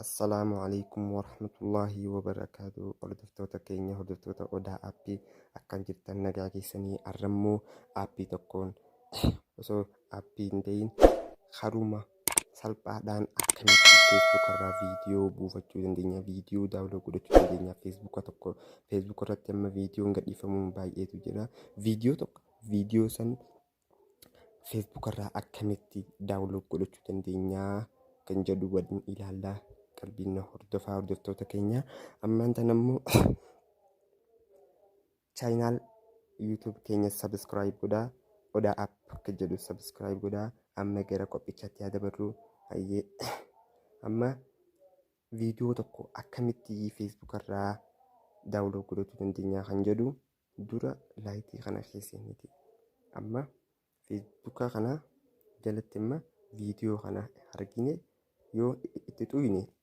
Assalaamu alaikum warahmatullaahi wabarakaatu hordoftoota keenya hordoftoota odaa appii akkam jirtan nagaa keessanii arrammoo appii tokkoon osoo appii hin ta'in haruma salphaadhaan akkamitti Facebook irraa viidiyoo buufachuu dandeenya viidiyoo daawuloo godhachuu dandeenya Facebook tokko Facebook irratti amma viidiyoon gadhiifamuun baay'eetu jira viidiyoo tokko viidiyoo san Facebook irraa akkamitti daawuloo godhachuu dandeenya kan jedhu waliin ilaallaa qalbiin na hordofaa hordoftoota keenya ammaan tan ammoo Chaayinaal YouTube keenya subscribe godhaa. Odaa app akka jedhu subscribe godhaa. Amma gara qophichaatti haa dabarru. Hayyee amma viidiyoo tokko akkamitti Facebook irraa daawulood godhachuu dandeenya kan jedhu dura laayitii kana keessaniiti. Amma Facebook kana jalatti amma viidiyoo kana argine yoo itti xuyne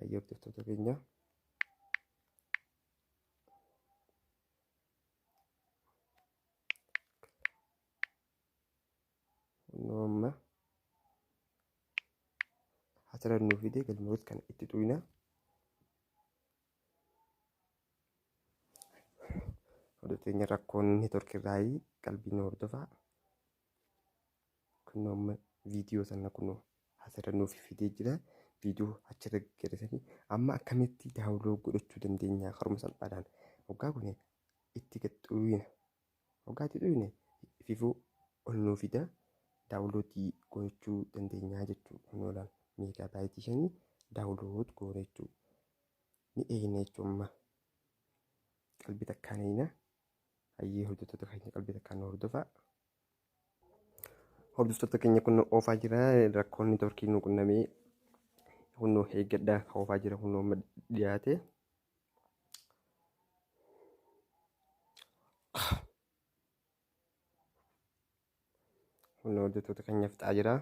Hayyee hordoftoota keenya. Kunoo amma hatara nuu fidee galmeewwan kana itti tuqinaa. Hordoftoota keenya rakkoon neetworkii irraa qalbii nu hordofaa. Kunno amma viidiyoo sana kunno asirra nuuf fidee jira. Viidiyoo achirra gaggeessanii amma akkamitti daawuloo godhachuu dandeenya karuma salphaadhaan. Waggaa kun itti gad xuuyina. Waggaa itti xuuyine fifuu ol nuuf fida daawuloodii godhachuu dandeenya jechuudha. Kunno laal meegaa baayitii shanii daawulood goone jechuudha. Ni eegna jechuudha amma. Qalbii takkaan eegna hayyee hojjettoota keenya qalbii takkaan nu hordofaa. Hordoftoota keenya kun nu oofaa jira rakkoon networkii nu qunnamee kun nu eeggadha oofaa jira kun nu amma dhiyaate. Kun hojjettoota keenya fixaa jira.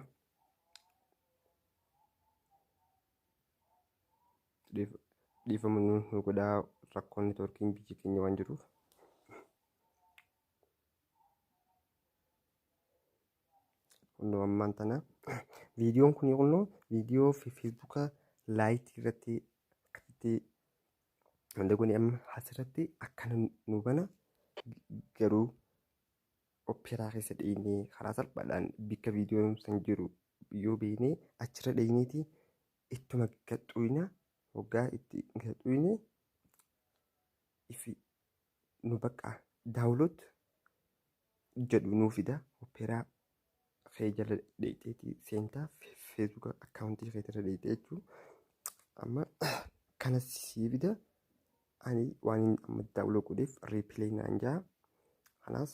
Dhiifama nu godhaa rakkoon networkiin biyya keenya waan jiruuf. Kunnoo ammaan tana viidiyoon kun kunnoo viidiyoo fi feesbuuka laayitii irratti akkasitti wanta kun amma asirratti akkana nu bana garuu oppeeraa keessa dheenyee karaa salphaadhaan bakka viidiyoon san jiru yoo beeknee achirra dheenyeeti ittuma gadhuina hoggaa itti gadhuine ifi nu bakka daawloot jedhu nuu fida opeeraa kee jala dheeyxeeti seentaa feesbuuka akkaawuntii kee irra dheeyxee jechuu amma kana sii fida ani waan inni amma daawloo godheef riipilee naan jaa kanaas